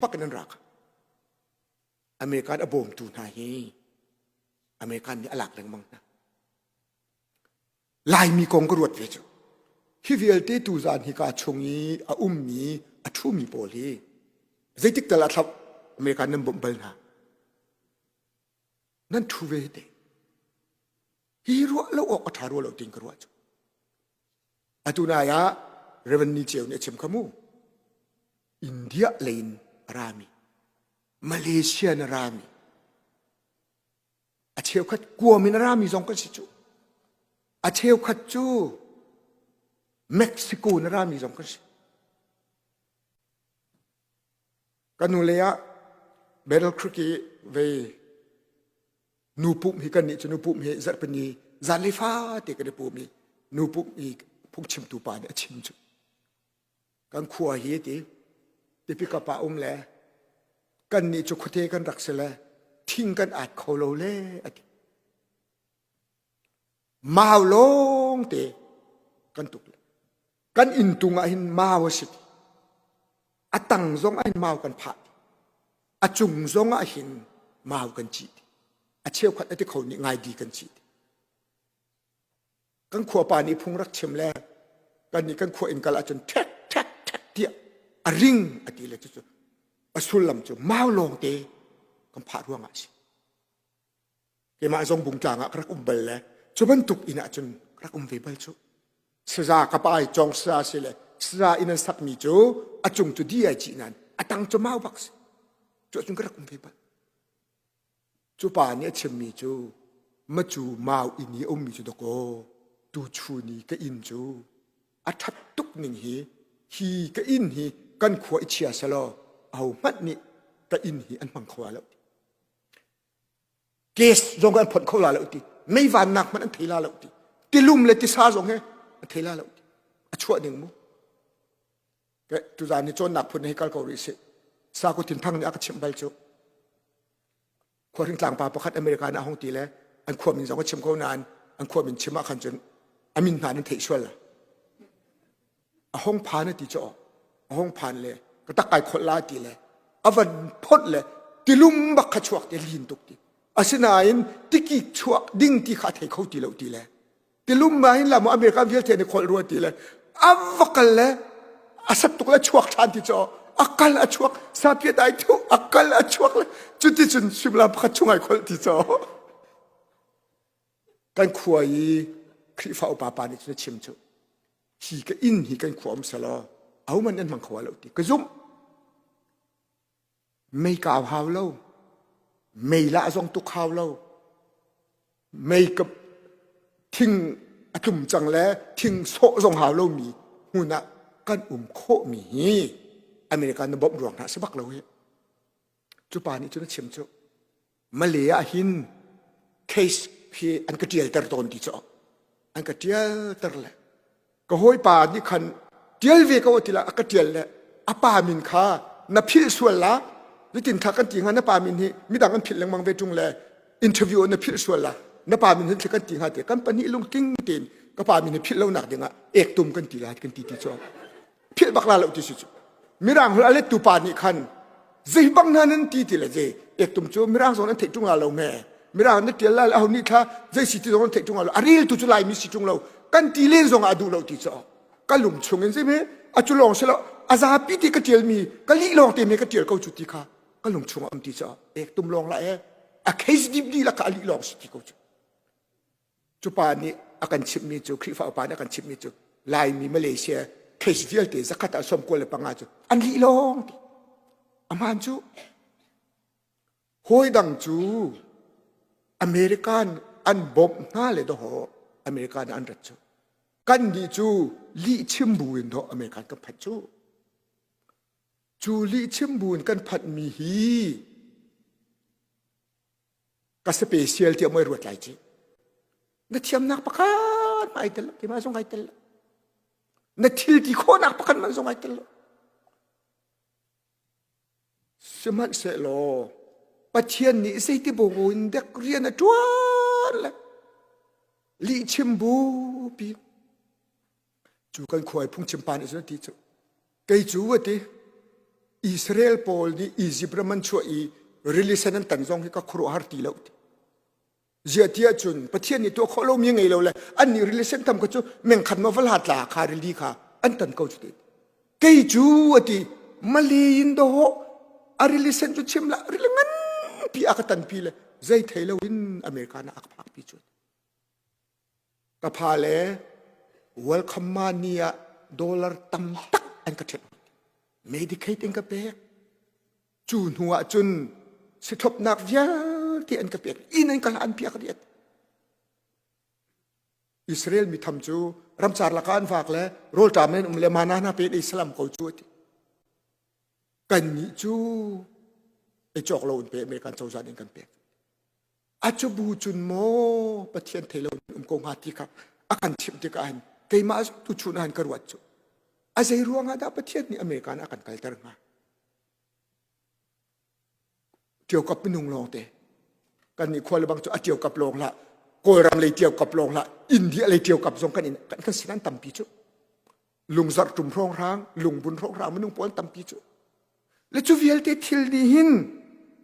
pak in an rak american a bawmtu hna hi american nih a lak lengmang hna laimi kong ka ruat ve cu hi vialte tu zan hi ka chung i a ummi a ṭhumi pawl hi zeitik tal a thlap american nan bawmh bal hna nan ṭhu ve te hi ruah lo awk a ṭha ruah lo ting ka ruah cu Atu nai ah Reverend Ni Ceu nih a chim kha mu. India lei in a rami, Malaysia in a rami, a cheukhat kuam in a rami zong kan si cu. A cheukhat cu Mexico in a rami zong kan si. Kanu lei ah Battle Creek i vei nu pum hi kan nih cu nu pum hi zarhpin ni zan le fa te kan i pum i nu pum i phungchimtu pa nih a chim cu kan khua hi ti tipi kapa um le kan nih cu khuate kan rak si le thing kan at kho lo le a ti Mau lawngte kan tuk le kan inn tung ah hin mau a si a tang zong ah hin mau kan phah a cung zong ah hin mau kan ci a cheukhat a ti kho nih ngai di kan ci kan khua pa nih phung rak chim le kan nih kan khua in kal ahcun thek thek thek tiah a ring a ti le cucu a sullam cu mau lawngte kan phah ruang ah a si Keimah zong bung tlang ah ka rak um bal le cu bantuk inn ahcun ka rak um ve bal cu. Saza ka pa ai cawng sa si le saza inn an sakmi cu a cung cu di ai ci nan a tang cu mau bak si cu ahcun ka rak um ve bal. Cu pa nih a chimmi cu macu mau inn i a ummi cu dakaw tu chu ni ka inn cu a ṭhat tuk ning hi hi ka inn hi kan khua i chia selaw ahohmanh nih ka inn hi an hmang kho lo. Case zong an phawt kho la lo ti. Mei vannak hmanh an thei la lo ti. Tilum le tisa zong he a thei la lo ti. A chuah ding mu. Tuzan ni cawnnak phun hei kal ko rih si. Saku Tin Thang nih a ka chimh bal cu. Khuahring tlangpa pakhat America na hong ti le an khua min zong a chim ko nain an khua min chim ah khan cun a min hna nan theih sual la. a hong phan ti cho a hong phan le ka tak kai khol la ti le avan phot le tilum bak kha chuak te lin tuk ti asinain tiki chuak ding ti kha thei kho ti lo ti le tilum ma in lamo america vial the ne khol rua ti le avakal le asat tuk le chuak than ti cho akal a chuak sapie dai thu akal a chuak le cuti cun simla pakhat chungai khol ti cho kan khua i khrifa upa pa nih cun chim chu hi ka in hi kan khua um sala au man an mang khoa lo ti ka zum mei ka hau lo mei la zong tu khau lo mei ka thing atlum cang le thing so zong hau lo mi huna kan um kho mi hi america na bom ruang ha sebak lo hi chu pa ni chu na chim chu Male ah hin case khi an ka ṭialter tawn ti cu an ka ṭialter le ka hawipa nih khan ṭial ve ko ti lah a ka ṭial le a pa min kha na philh sual la nitin thla kan ti hnga na pa min hi midang an philh lengmang ve ṭung le interview on na philh sual la na pa min hin thla kan ti hnga te kan pahnih lungtling tein ka pa min hi philh lonak dingah ek tum kan ti la kan ti ti cu philh bak la lo ti si cu mirang hol a lettu pa nih khan zei bang hna nan ti ti le je ektum cu mirang zong nan theih ṭung lo me mirang nan ṭial lai aho nih thla zei si ti zong nan theih ṭung lo a ril tu cu laimi si ṭung lo kan ti len zong ah a duh lo ti cu ka lung chung in si me a cu lawng si lo a zapi ti ka ṭialmi ka lih lawng te me ka ṭial ko cu ti kha ka lung chung a um ti cu ek tum lawng la e a kheis dip di la ka ali lawng si ti ko cu Cupa nih a kan chimhmi cu Khrihfa upa nih a kan chimhmi cu Laimi Malaysia case vialte zakhat ah sawm kul le panga cu an lih lawng ti. A hmaan cu hawi dang cu American an bawmh hna le dawh American an rat cu. Kan nih cu lih chim bu in dawh American kan phanh cu. Cu lih chim bu in kan phanhmi hi ka sape sial tiah mui ruat lai ci na thiamnak pakhat ma ai tel lo keimah zong ai tel lo na thil ti khawnak pakhat man zong ai tel lo sihmanhsehlaw pathian nih zeiti bogo in dek rian a tuan le lihchim bu pi Cu kan khuai phungchim pa nih cun an ti cu. Kei cu a ti. Israel pawl nih Izipt ram an chuah i rili sen an tan zong hi ka khuaruahhar ti lo. Ziahtiah cun Pathian nih tuah khawh lomi ngei lo le an nih rili sen tam kha cu mengkhat ma vala tla kha rili kha an tan ko cu ti. Kei cu a ti mali in dawh a rili sen cu chim la rili nganpi a ka tanpi le zei thei lo in America na a ka phakpi cu. Ka fale, Welcome Money ah dollar tam tak an ka ṭhek. Medicaid in ka pek. Cu hnu ah cun sithlopnak vialte an ka pek. Inn an ka hlan piak riat. Israel mi tham cu ramcar laka an vak le rawlṭam in um le mana hna pe Islam ko cu ati. Kan nih cu e cawk lo in pe me kan cozan in kan pek. A cubu cun maw Pathian thei lo in um ko hnga ti kha a kan chimh tikah hin keimah tuchun ah hin ka ruat cu. A zei ruangah dah Pathian nih America in a kan kalter hnga? Tiokap minung lawng te. Kan nih khua lebang cu a tiokap lawng la, Kawlram lei tiokap lawng la, India lei tiokap zong kan in kan, kan sin an tampi cu. lungzarh ṭum hrawng hrang lungbun hrawng hrang minung puan tampi cu le cu vialte thil nih hin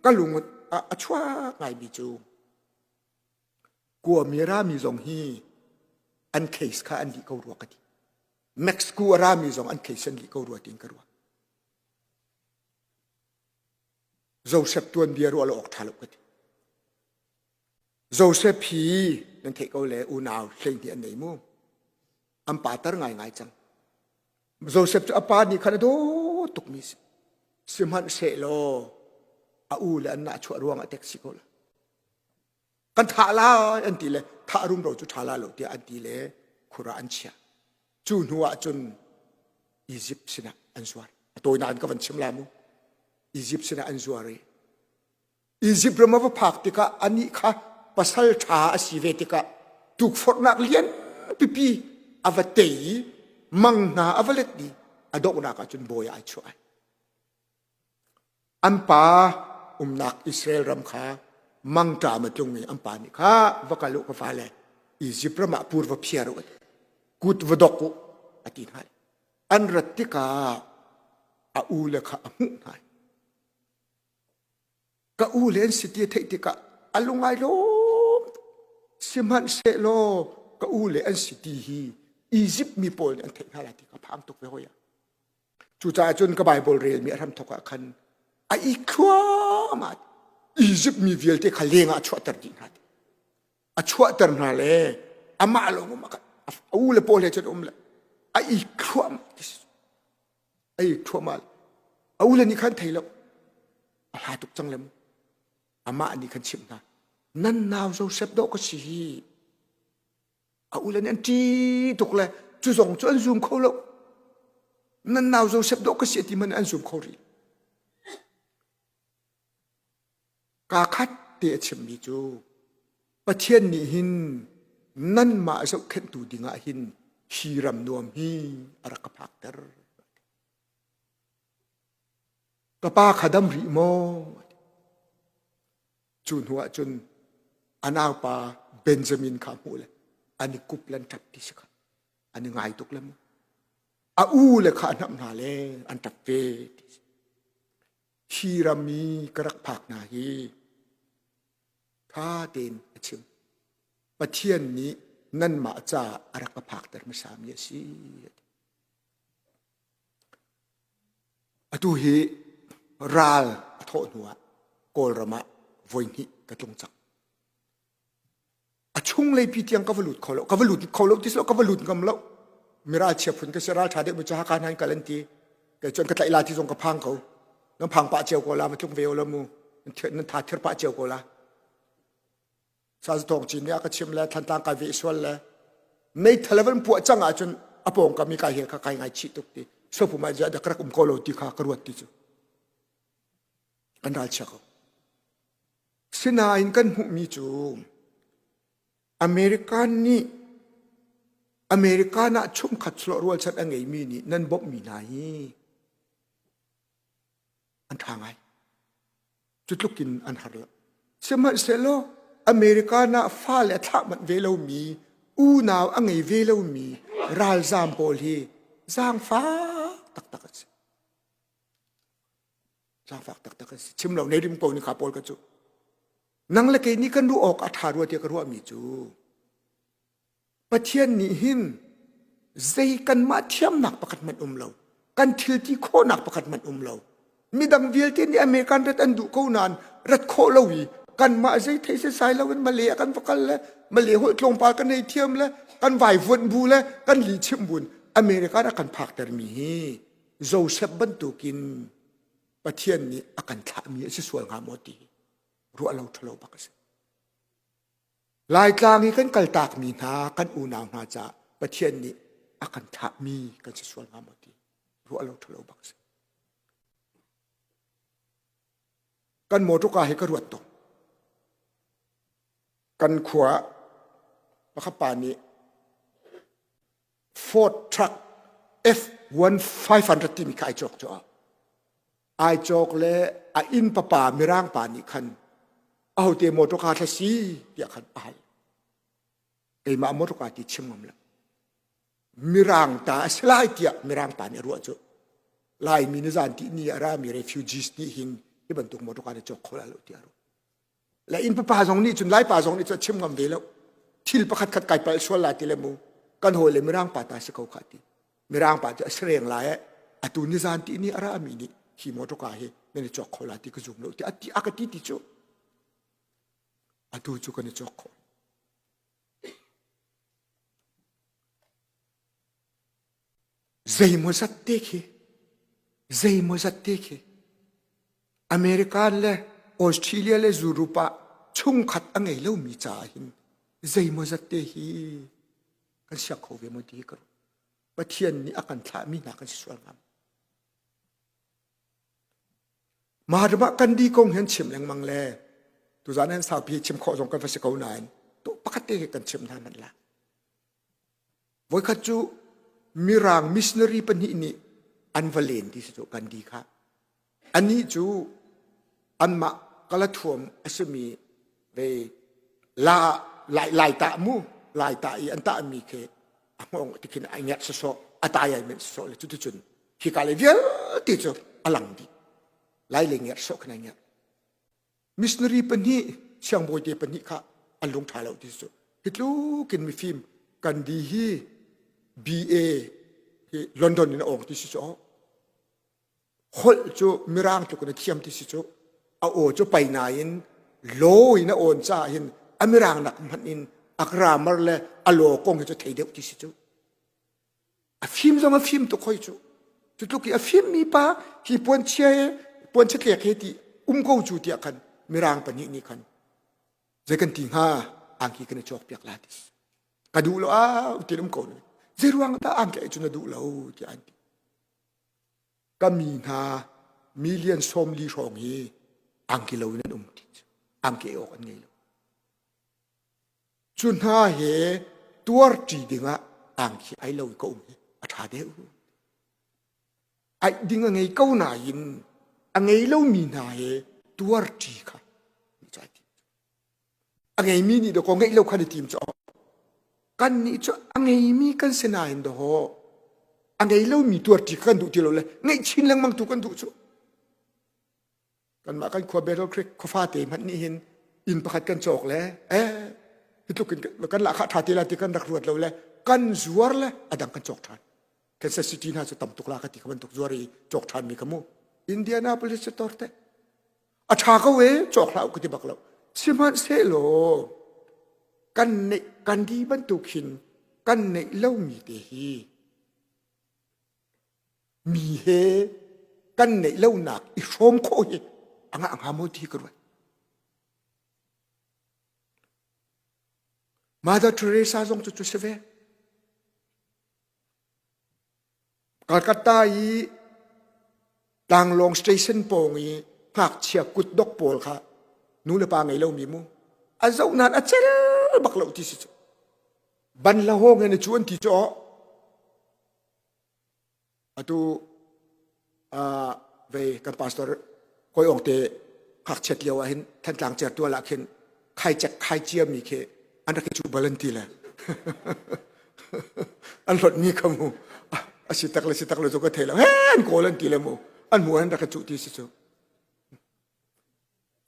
ka lungut a, a chuak ngaimi cu kua mi rami zong hi an case kha an lih ko rua ka ti Mexico a rami zong an case an lih ko rua tiin ka ruah Joseph tuanbia ruah lo awk ṭha lo ka ti Josef hi nan theih ko le unau hleihnih an nei mu. An pater ngaingai cang. Josef cu a pa nih khan a dawt tukmi si. Sihmanhsehlaw a u le an nah chuah ruangah tek si ko la. Kan thah lai an ti le thah rumro cu ṭha la lo tiah an ti le khura an chiah. Cu hnuah cun Egypt sinah an zuar. A tawinak in ka van chim la mu. Egypt sinah an zuar i Izipt ram a va phak tikah anih kha pasal ṭha a si ve tikah tukforhnak lian pipi a va tei i mang hna a va let i a donghnak ah cun bawi ah ai chuah ai. An pa umnak Israel ram kha mangṭam a tlungmi an pa nih kha va kal u ka fale Izipt ram ah pur va phiar u kut va dok u a ti hna an rat tikah a ule kha a hmuh hna Ka u le an si ti a theih tikah a lungai lawm sihmanhsehlaw ka u le an si ti hi Egypt mi pawl nih an theih hna lai ti ka phang tuk ve hoi a. Cucaah cun ka Baibal relmi a hramthok ah khan a ikhuama Egypt mi vialte kha leng ah a chuahter dih hna ti. A chuahter hna le amah lawng um a u le pawl he cun um le a ikhuama ei ṭhuahmah a ule nih khan thei lo a hla tuk cang lem amah nih khan chimh hna nan nau Josef dawh ka si hi a ule nih an ṭi tuk le cu zong cu an zum kho lo nan nau Josef dawh ka si a ti man an zum kho rih Kaa khat te a chimmi cu Pathian nih hin nanmah zohkhenhtu dingah hin hi ram nuam hi a rak ka phakter. Ka pa kha dam rih maw? Cu hnuah cun a naupa Benjamin kha hmuh le an i kup le an ṭap ti si kha an i ngai tuk le mu. A ule kha a hnamh hna le an ṭap ve ti si. hi ram i ka rak phak hna hi ṭha tein a chim. Pathian nih nanmah caah a rak ka phakter hmasami a si. Atu hi ral a thawh hnuah Kawlram ah voihnih ka tlung cang. a chunglei pi tiang ka va lut kho lo ka va lut kho lo ti lo ka va lut ngam lo mira chia phun ka sira tha dek cha kan han kal an ti kei chuan ka tlai la ti zong ka phang ko nan phang pa cheu ko la ma tlung ve lo mu nan tha thir pa cheu ko la sa thong chin ne ka chim le than tang ka ve sual le nei thalevan pu chang a chun apong kami ka he ka kai ngai chi tuk ti sopu ma ja da krak um ko lo ti kha ka ruat ti chu kan dal cha ko Sinain kan hmuhmi cu American nih American ah chumkhat slawh rualchan a ngeimi nih nan bawmhmi hna hi an ṭha ngai. Cutlukin an har lo. Sihmanhsehlaw American ah fa le a thlah manh ve lomi, unau a ngei ve lomi ralzaam pawl hi zaangfak taktak an si. Cangfak taktak asi. Chim lo nei rim ko ni kha Paul ka cu. Nang le kei nih kan ruh awk a ṭha rua tiah ka ruahmi cu Pathian nih hin zei kanmah thiamnak pakhat hmanh um lo kan thilti khawhnak pakhat hmanh um lo midang vialte nih American rat an duh ko nain rat khawh lo i kanmah zei thei sai lo in Malay kan va kal le Malay holh tlawmpal kan ei thiam le kan vai vuanh bu le kan li chim buin America a kan phak termi hi Joseph bantukin Pathian nih a kan thlahmi a si sual hnga maw ti ruah lo ṭhalo bak a si. Laitlang i kan kaltakmi hna, kan unau hna caah Pathian nih a kan thlahmi kan si sual hnga maw ti ruah lo ṭhalo bak a si. Kan motorka hi ka ruat tuk. Kan khua pakhat pa nih Ford truck F-1500 timi kha ai cawk cu ai cawk le a inn papa mirang pa nih khan ahote motor car thla si tiah khan a hal keimah motor car ti chim ngam lo mirang ta a si lai tiah mirang pa nih a ruah cu laimi ni zan ti ni a rami refugees nih hin hi bantuk motor car hi cawk kho la lo tiah a ruah le innpa pa zong nih cun laipa zong nih cu a chim ngam ve lo thil pakhat khat kai palh sual la ti le mu kan hawi le mirang pa ta si ko kha ti mirang pa cu a sireng lai eh, atu ni zan ti ni ara mi ni hi motor ka hi nan i chok kho la ti ka zum lo ti ati aka ti ti chu atu chu kan i chok kho Zeimawzat te khi, zeimawzat te khi America le Australia le Europe ah chungkhat a ngei lomi caah hin zeimawzat te hi kan siang kho ve maw ti hi ka ruah. Pathian nih a kan thlahmi hna kan si sual ngam. Mah ram ah kan di kong hi an chim lengmang le tuzan an saupi chim khawh zong kan va si ko nain to pakhat te hi kan chim hna man la. Voikhat cu Mirang missionary pahnih nih an va len ti si cu kan di khah. Anih cu anmah ka la thuam a simi ve la lai lai tah mu lai tah i an tahmi khi a hngawng ti khin ai ngerh sasawh a tai ai men sasawh le cuticun hi ka le vialte cu a lang dih lai le ngerh sawh khin ai ngerh missionary pahnih siangbawite pahnih kha an lung ṭha lo ti cu hitlukin mifim gandhi hi BA hi London in a awng ti si cu holh cu mirang tluk in a thiam ti si cu a aw cu pai nain lo in a awn ca hin a mirang nak hmanh in a grammar le a law kong hi cu thei deuh ti si cu A fim zong a fim tuk hoi cu. Cutluk i a fimmi pa hi puanchia he, puanchia tlek he ti um ko cu tiah khan mirang pahnih nih khan zei kan ti hnga angki kan i cawk piak la ti. Ka duh lo ah utin um ko nu. Zei ruang dah angki ai cu na duh lo tiah an ti. Ka mi hna million sawm li hrawng hi angki lo in an um ti cu. Angki awk an ngei lo. Cu hna hi tuarṭi dingah tang khi ai lo i ka um hi a ṭha deuh. Aih ding a ngei ko nain a ngei lomi hna hi tuarṭi kha a ngeimi nih dawko ngeih lo khan i tim cu kan nih cu a ngeimi kan si nain daw a ngei lomi tuarṭi kan duh ti lo le ngeih chin lengmang tu kan duh cu kanmah kan khua Battle Creek khuafate hmanh nih hin inn pakhat kan cawk le eh hitluk in kan la kha tha ti la ti kan rak ruat lo le kan zuar le adang kan cawk than Kansas City hna cu tam tuk la ka ti ka bantuk zuar i cawk than mi ka mu Indianapolis cu tor te a tha ko e cawk hla ku ti bak lo sihmanh se lo kan ne kan di bantuk hin kan nei lo mi te hi Mi he kan neih lonak i hrawm khawh hi a ngah hnga maw ti ka ruat. Mother Teresa zong cu cu si ve. Calcutta i tlanglawng station pawng i ngakchia kutdok pawl kha nu le pa ngei lomi mu a zoh nan a cel bak lo ti si cu ban la hawng he na cu an ti cu Atu vei kan pastor hawi ong te ngakchiat lio ah hin Thantlang cer tual ah khin khaicek khaicia mi khi an rak i cuh bal an ti le an hlotmi kha mu a si tak le si tak le cu ka thei le an kawl an ti le mu an mu an rak i cuh ti si cu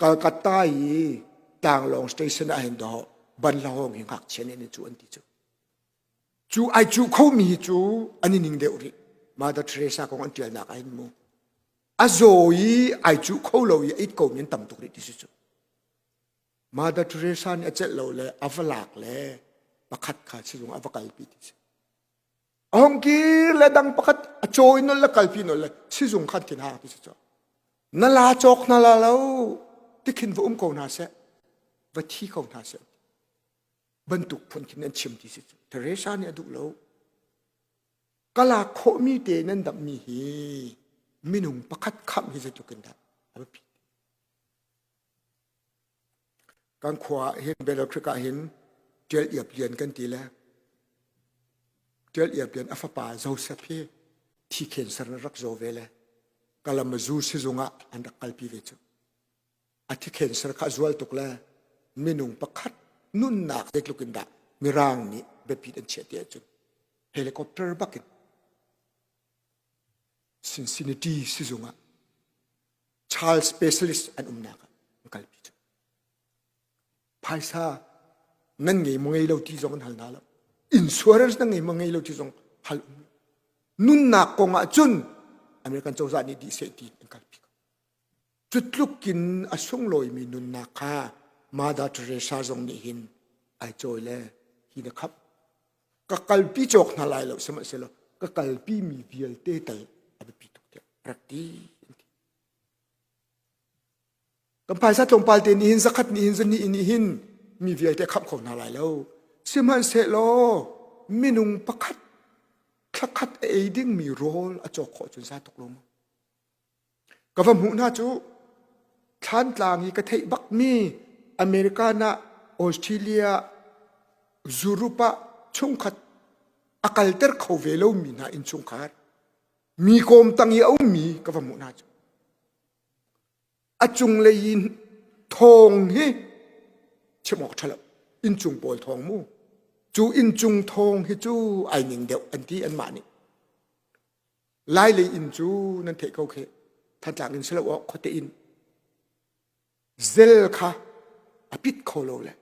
Kalkata i tlanglawng station ah hin do ban la hong hi ngakchia nih an i cuh an ti cu Cu ai cu khomi hi cu an i ning deuh rih. Mother Teresa kong an ṭialnak ah hin mu. A zaw i ai cuh kho lo i a it komi an tam tuk rih ti si cu. Mother Teresa nih a celh lo le a va lak le pakhat kha sizung ah va kalpi ti si. A hung kir le dang pakhat a caw i nol le kalpi nol le sizung khan thin hang ti si cu. Na la cawk hna la lo tikhin va um ko hna seh, va thi ko hna seh. bantuk phun khin nan chim ti si cu Teresa nih a duh lo kala khawhmi te nan dammi hi minung pakhat kham hi zetuk in dah a biapi kan khua hin Belotric ah hin tial iap lian kan ti le tial iap lian a fapa Joseph hi thi khen ser rak zo ve le kalam zu sizung ah an rak kalpi ve cu a thikhen ser kha zual tuk le minung pakhat nunnak zeitluk in dah mirang nih biapit an chiah ti ahcun helicopter bakin Cincinnati sizung ah child specialist an umnak ah an kalpi cu phaisa nan ngei mo ngei lo ti zong an hal na lo insurance nan ngei mo ngei lo ti zong hal um nunnak kong ah cun American cozah nih dih seh ti an kalpi ko Cutluk in a sunglawimi nunnak kha Mother Teresa zong nih hin ai cawi le hi na khap. Ka kalpi cawk hna lai lo sihmahsehlaw ka kalpi mi vialte tal a biapi tuk tiah rak ti. Kan phaisa tlawmpal te nih hin zakhat nih hin zuni nih hin mi vialte khap kho hna lai lo. Sihmanhsehlaw minung pakhat thlakhat a ei dingmi rawl a cawk khawh cun sa tuk lo maw? Ka va hmuh hna cu, thlantlang i ka theih bakmi American ah, Australia ah, Zurup ah chungkhat a kalter kho ve lomi hna innchungkhar, mi kawmtang i a ummi ka va hmuh hna cu. A cunglei i thawng hi chim awk ṭha lo, innchung pawl thawng mu. Cu inncung thawng hi cu ai ning deuh, an ti anmah nih. lai lei in cu nan theih ko khe thantlang in selo awk khote in zel kha a pit kho lo le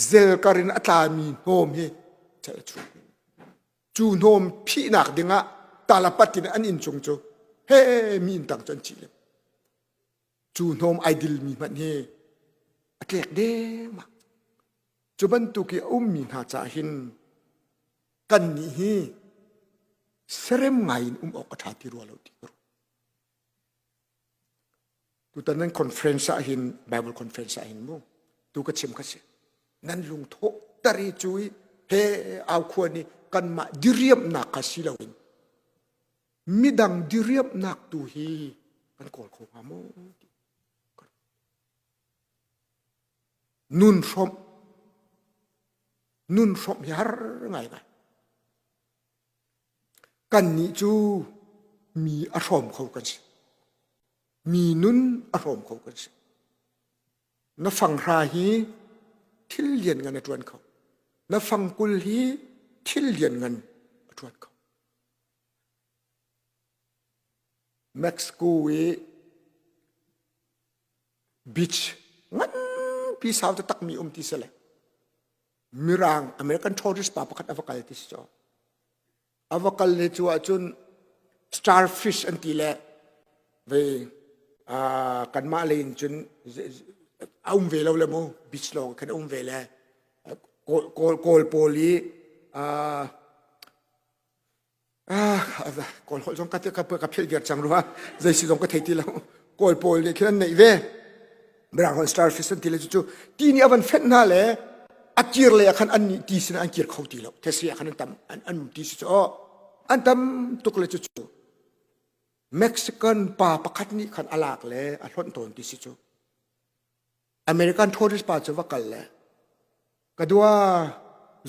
zel karin a tlami hnawm hi chel chu cu hnawm phihnak dingah talapat in an in chung cu he mi in tang cun chi le cu hnawm idil mi hman hi a tlek dema cu bantuk i a ummi hna ca hin kan nih hi serem ngai in um awk a ṭha ti rua lo ti ru tutan nan conference ah hin bible conference ah hin mu tu ka chim ka si nan lungtho tari cu i he au khua ni kan mah diriam nak ka si lo in midang diriam nak tu hi kan kawl kho hnga mu Nunhrawmh hiar ngaingai. Kannih cu mi a hrawm kho kan si. Mi nun a hrawm kho kan si. Na fanghra hi thil lian ngan a ṭuan kho. Na fangkul hi thil lian ngan a ṭuan kho. Mexico i Beach nganpi sau te takmi um ti si le Mirang American tourist pa pakhat ava kal ti si cu ava kal ne cu ahcun starfish an ti le vei kanmah lei in cun a um ve lo le mu beach lawng khan a um ve le kawl kawl pawl i Ah, kawl holh zong ka ka philh viar cang rua zei si zong ka thei ti lo kawl pawl nih khin an neih ve Branghorn starfish an ti le cu ti ni avan fet hna le a kir le khan an ni ti sin an kir kho ti lo the si khan an tam an an ti si cho an tam tuk le cu Mexican pa pakhat nih khan alak le a hlon ton ti si chu American tourist pa cu va kal le ka dua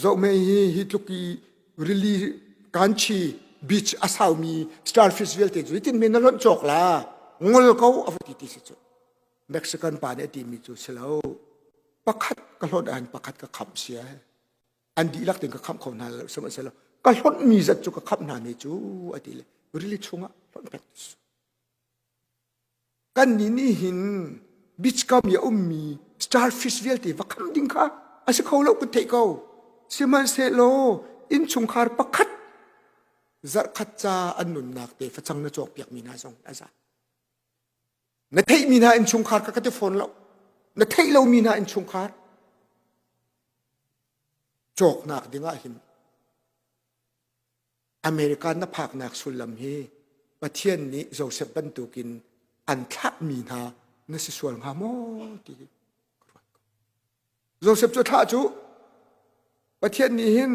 zohme hi hi tluk i rili kanchi beach a saumi starfish vialte cu hitin men na lonh cawk la ngol ko a va ti ti si cu mexican pa nih a timi cu si lo pakhat ka hlawt ahhin pakhat ka khamh sia an dihlak tin ka khamh kho hna lo sihmanhsehlaw ka hlawtmi zat cu ka khamh hna ne cu a ti le rili chungah hlawt pek Kannih nih hin beach kam i a ummi starfish vialte va kham ding kha a si kho lo kan theih ko. Sihmanhsehlaw innchungkhar pakhat zarhkhat ca an nunnak te facang na cawkpiakmi hna zong a za. Na theihmi hna innchungkhar kha ka ti fawn lo. Na theih lomi hna innchungkhar cawknak dingah hin America na phaknak sullam hi Pathian nih Joseph bantukin an thlahmi hna na si sual hnga maw ti Joseph cu thlah cu Pathian nih hin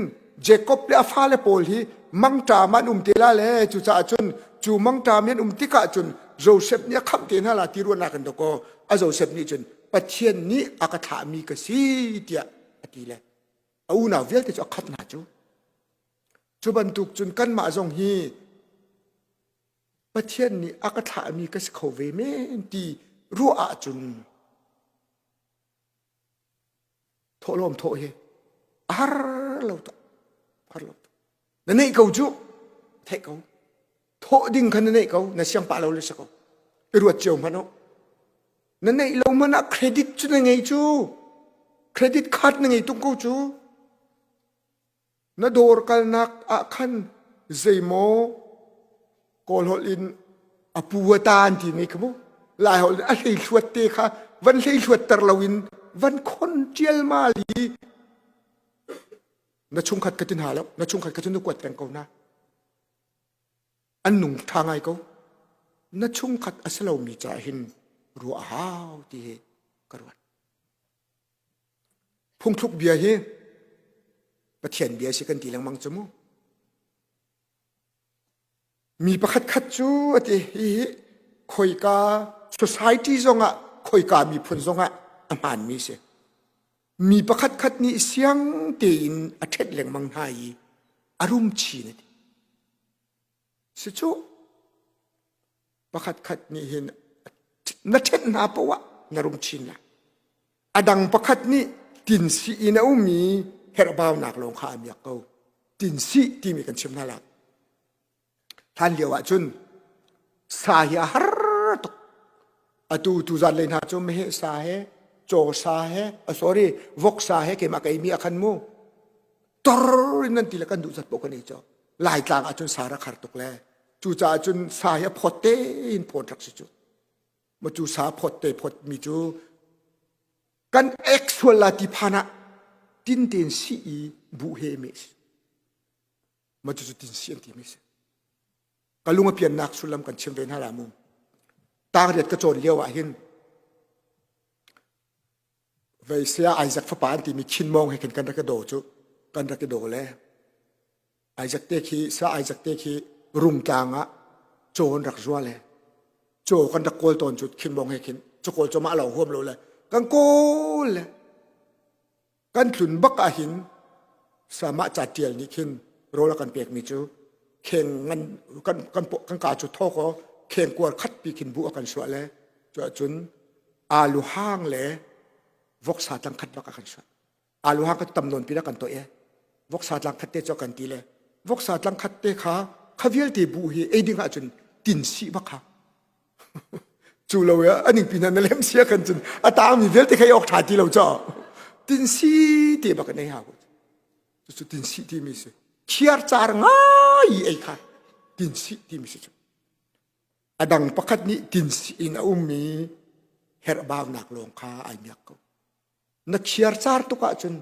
Jacob le a fale pawl hi mangṭam an um te la le cucaah cun cu mangṭam an um tikah cun Joseph nih a khamh te hna la ti ruahnak in dakaw a Joseph nih cun Pathian nih a ka thlahmi ka si tiah a ti le a unau vialte cu a khat hna cu Cu bantuk cun kanmah zong hi Pathian nih a ka thlahmi ka si kho ve men ti ruah ahcun thawhlawm thawh hi a har lo tuk har lo tuk na neih ko cu theih ko thawh ding kha na neih ko na siang pah lo le si ko i ruat cio hmanh u na neih lo hmanh ah credit cu na ngei cu credit card na ngei tung ko cu Na dawr kalnak ah khan zeimaw kawl holh in a pu a ta an timi kha mu lai holh in a hlei thluat te kha van hlei thluatter lo in van khon ṭialmal i na chungkhat ka tin ha lo na chungkhat ka cu na kuat peng ko na an nung ṭha ngai ko na chungkhat a si lomi ca hin ruah hau ti hi ka ruat Phungthluk bia hi Pathian bia si kan ti lengmang cu mu. Mi pakhat khat cu a ti hi khoika society zongah khoika miphun zongah a hmaanmi si. Mi pakhat khat nih siang tein a ṭhenh lengmang hna i a rum chin a ti. Si cuh! Pakhatkhat nih hin na ṭhenh hna poh ah na rum chin lai. A dang pakhat nih tinsi in a ummi herhbaunak lawng kha a miak ko. Tinsi timi kan chim hna lai. Hlan lio ah cun sa hi a har tuk. Atu tuzan lei hna cu meheh sa he, caw sa he, a sorry, vok sa he keimah ka ei mi a khan mu. tor in nan ti le kan duh zat poh kan ei co laitlang ahcun sa rak har tuk le cucaah cun sa hi a phawt te in phawt rak si cu ma cu sa phawt te phawt mi cu kan ek sual la ti phan ah tin tein si i bu he me si ma cu cu tin si an ti mi si ka lung a piannak sullam kan chim ve hna la mu tang riat ka cawn lio ah hin Veisea Isaac fapa an timi Khinmawng he khin kan rak i daw cu kan rak i daw le Isaac te khi sa Isaac te khi rungtlang ah caw an rak zual he caw kan rak kawl tawn cu Khinmawng he khin cu kawl cu mah lo huam lo le kan kawl le kan hlun bak ah hin samah ca ṭial nih khin rawl a kan pekmi cu kheng ngan kan kan kan ka cu thawk aw kheng kuar khat pi khin bu a kan suah le cuahcun alu hang le voksa tlang khat bak a kan suat alu hang kan tam nawn pin a kan to e voksa tlang khat te cho kan ti le voksa tlang khat te kha kha vialte bu hi ei ding ahcun tin si bak kha cu lo ya aning pin na lem sia kan cun ata mi vialte khai ok tha ti lo cho tin si te bak nei ha ku su tin si ti mi si chiar char ngai ei kha tin si ti mi si chu A dang pakhat nih tinsi in a um i herhbaunak lawng kha ai miak ko. Na chiarcar tuk ahcun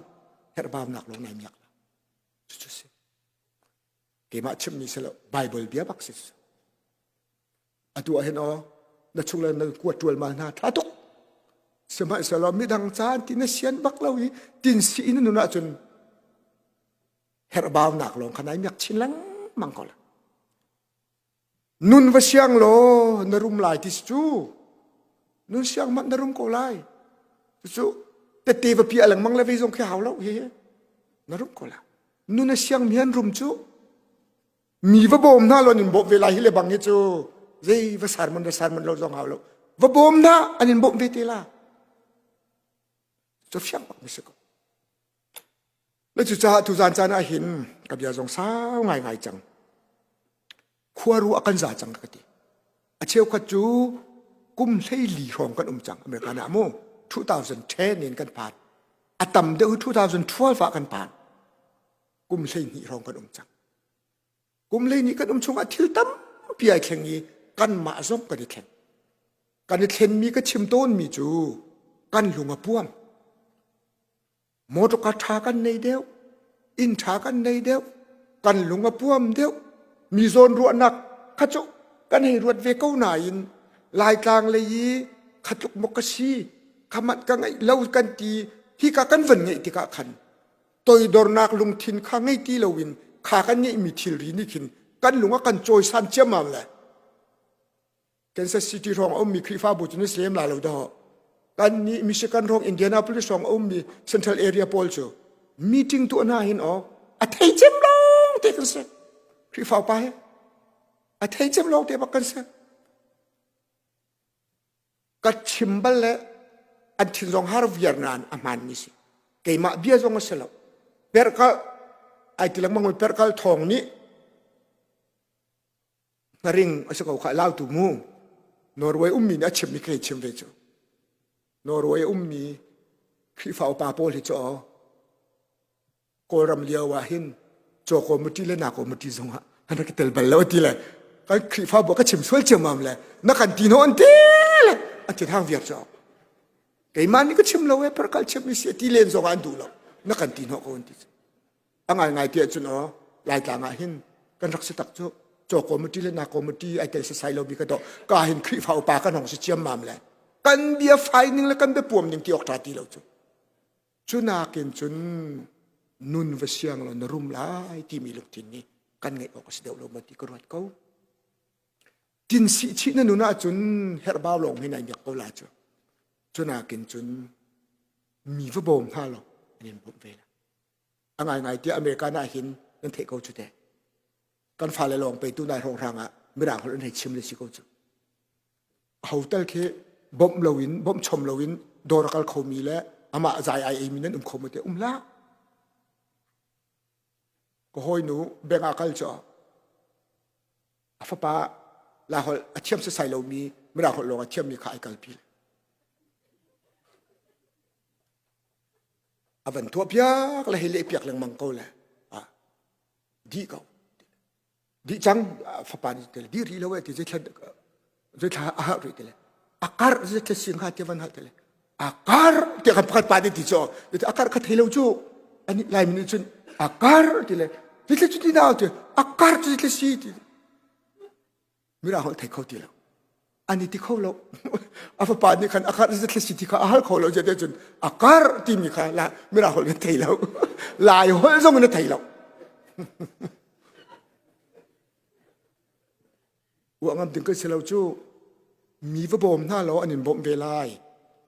herhbaunak lawng ai miak lo. Cucu si. Keimah chimmi si lo, Bible bia bak si. Atu ah hin o, na chung le na kuat tual ma hna tha tuk. Sihmanhsehlaw midang caan ti na sian bak lo i tinsi in nun ahcun herhbaunak lawng kha nai miak chin lengmang ko la. Nun va siang law na rum lai ti cu nun siang hmanh na rum ko lai. Cucu tete vapi a lengmang le vei zong khi hau lo he na rum ko la. Nun a siang mi an rum cu mi va bawm hna law in bawmh ve lai hi le bang hi cu zei va sermon le sermon lo zong hau lo. Va bawm hna an in bawmh ve te la. Cu fiang bak na si ko. na cucaah tuzan caan ah hin ka bia zong sau ngaingai cang khuaru a kan za cang ka ti a cheukhat cu kum hleili hrawng kan um cang america na mu 2010 in kan phan a tam deuh 2012 ah kan phan kum hleihnih hrawng kan um cang kum hleihnih kan um chungah thil tampi ai thleng i kanmah zong kan i thleng kan i thlenmi ka chim tawnmi cu kan lung a puang motor ka tha kan nei deuh inn tha kan nei deuh kan lung a puam deuh mi zawn ruahnak kha cu kan hei ruat ve ko nain laitlang lei i khatluk mok ka si khamat ka ngei lo kan ti hi ka kan van ngeih tikah khan toidornak lungthin kha ngei ti loin kha kan ngeih mi thilri nih khin kan lung a kan cawisan ciammam le Kansas City rong ummi Khrihfabu cu na si lem la lo dawh. Kan nih Michigan rong Indianapolis rong ummi Central Area pawl cu meeting tu hna hin aw a thei cem lawng te kan si. Khrihfa pa he a thei cem lawng te bak kan si. Ka chim bal le an thin zong har viar nan a hman ni si. Keimah bia zong a si lo. Perkal ai tilak mang perkal thong ni Hnaring a si ko kha lau tu mu. Norway ummi nih a chimmi kha chim ve cu. Norway a ummi Khrihfa upa pawl hi cu Kawlram lio ah hin chaw committee le na committee zong ah an rak i tel bal lo a ti le kan Khrihfa bu ka chim sual ciammam le na kan ti no an ti le a ti hang viar cu keimah nih ka chim lo e per kal chim mi si ti len zong an duh lo na kan ti no ko an ti a ngaingai ti ahcun aw laitlang ah hin kan rak si tak cu chaw committee le na committee ai tel sasai lo bi ka to ka hin khrifa upa kan hong si chiam mam le kan bia finding le kan bia puam ding ti ok tra ti lo cu cu nakin cun nun va siang lo na rum lai timi lungthin ni kan ngeih awk a si deuh lo ma ti ka ruat ko tin si chi na nun ahcun herbau lawng hin ai miak ko la cu cu nakin cun mi va bawm hna lo an in bawm ve la a ngaingai tiah America na hin nan theih ko cu te kan fale lawng peitu nai hrawng hrang ah mirang holh an hei chim le si ko cu ho tal khi bom lo in bom chom lo in dawr a kal kho mi le amah zai ai ei mi nan um kho mu te um la ka hoi nu benga kal cho a fapa la hol a thiam se sai lo mi mirang holh lawng a thiam mi kha ai kal pi a van thuah piak le hei leh piak lengmang ko le a dih ko dih cang fapa nih tele di ri lo e ti zei thlan zei thla a hah ri tele a kar zei thla siang ha ti van hal tele a kar ti kan pakhat pa ti cho a kar kha thei lo chu ani lai min cun a kar ti le ti thla chu ti na ti a kar ti thla si ti mirang holh thei kho ti lo an i ti kho lo a fapa nih khan a karh zat thasi ti kha a hal kho lo zate cun a kar timi kha la mirang holh na thei lo lai holh zong na thei lo uangam ding kan si lo cu mi va bawm hna lo an in bawm ve lai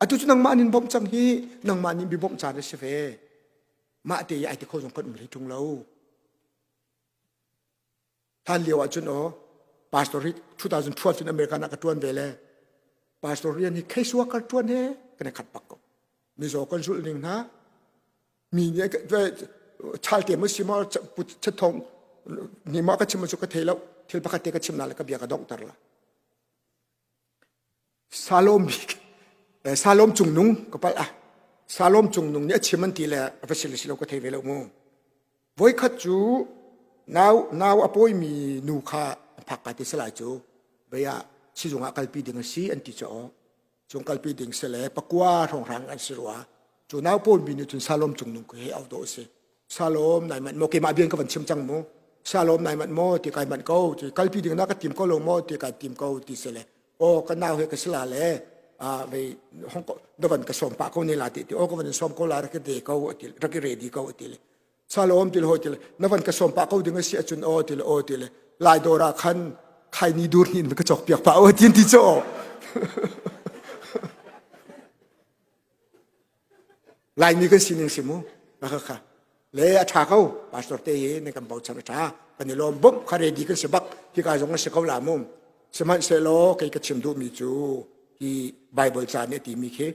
atu cu nangmah an in bawm cang hi nangmah nin bi bawmh caan a si ve mah te i ai ti kho zong kan um hlei tung lo hlan lio ahcun o pastor hi 2012 cun american ah ka tuan ve le pastor rian hi kheisua kal tuan he kan i khat pak ko mizo kan zul ning hna mi nih chalte mu si ma put che thong ni ma ka chim cu ka thei lo thil pakhat te ka chim na le ka bia ka dong tar la Salom Salom cungnung ka palh ah Salom cungnung nih a chim an ti le a va si le si lo ka thei ve lo mu. Voikhat cu nau nau a pawimi nu kha a phak ka ti salai cu beiah sizung ah kalpi ding a si an ti cu aw. Cung kalpi ding si le pakua hrongrang an si rua. Cu nau pawmi nih cun Salom cungnung ku hi au dawh a si. salom nai manh mo ke ma bian ka van chim chang mu salom nai manh mo ti kai manh ko ti kalpi ding na ka tim ko lo mo ti kai tim ko ti se le o ka nau he ka sila le a vei hong ko davan ka som pa ko ne la ti ti o ka van som ko la ra de ko ti ra ki ready ko ti le salom til ho til na van ka som pa ko ding si achun o til o til lai dora khan khai ni dur hin ka chok piak pa o tin ti cho Laimi kan sining si mu khakha le a tha ko pastor te hi ne kan bochan a tha kan i lawm bom kha ready kan si bak hi ka zong si ko la mu sihmanhsehlaw kei ka chim duhmi cu hi bible ca nih timi khi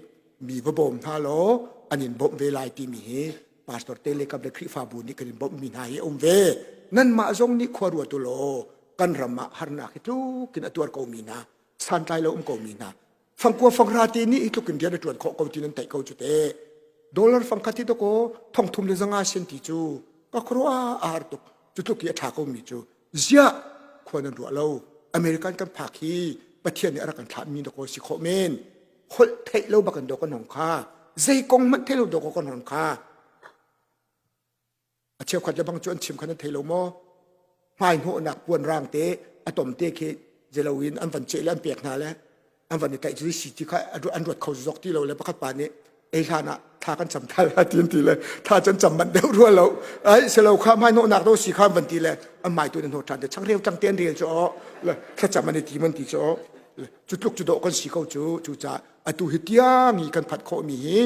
mi va bawm hna law an in bawmh ve lai timi hi pastor te le kap le khrihfabu nih kan in bawmh mi hna hi um ve nanmah zong nih khua ruat u law kan ram ah harnak hi tlukin a tuar ko mi hna santlai lo um ko mi hna fangkua fangra te nih i tluk in rian a tuan khawh ko ti nan tei ko cu te dollar fangkhat hi doko thongthum le zanga sen ti cu ka khro a ar tuk cu tluk i a tha ko mi cu zia khua nan ruah lo american kan phak hi pathian nih a rak kan thlah mi doko si khawh men holh theih lo bakan do kan hong kha zei kong manh thei lo do kan hong kha a cheukhat le bang cu an chim khan an thei lo maw hmai hnawhnak puan rang te a tom te khi zelo in an van ceh le an pek hna le an van i tlaih cu si ti kha an ruat kho zok ti lo le pakhat pa nih ei hlan ah thla kan cam thal ha ti ti le thla can cam manh deuh rua lo ai selo kha mai no nak do si kha van ti le an mai tu ne no than de chang reu tang ten rel cho le thla cham ani ti man ti cho chu tluk chu do kan si ko chu chu cha atu hi tiang i kan phat kho mi hi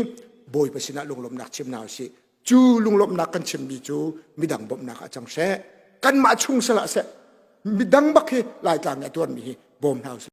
boi pasina lunglom nak chim na si cu lunglawmhnak kan chimmi cu midang bawmhnak ah cang she kanmah chung salah seh midang bak hi laitlang i a tuanmi hi bawm hna usih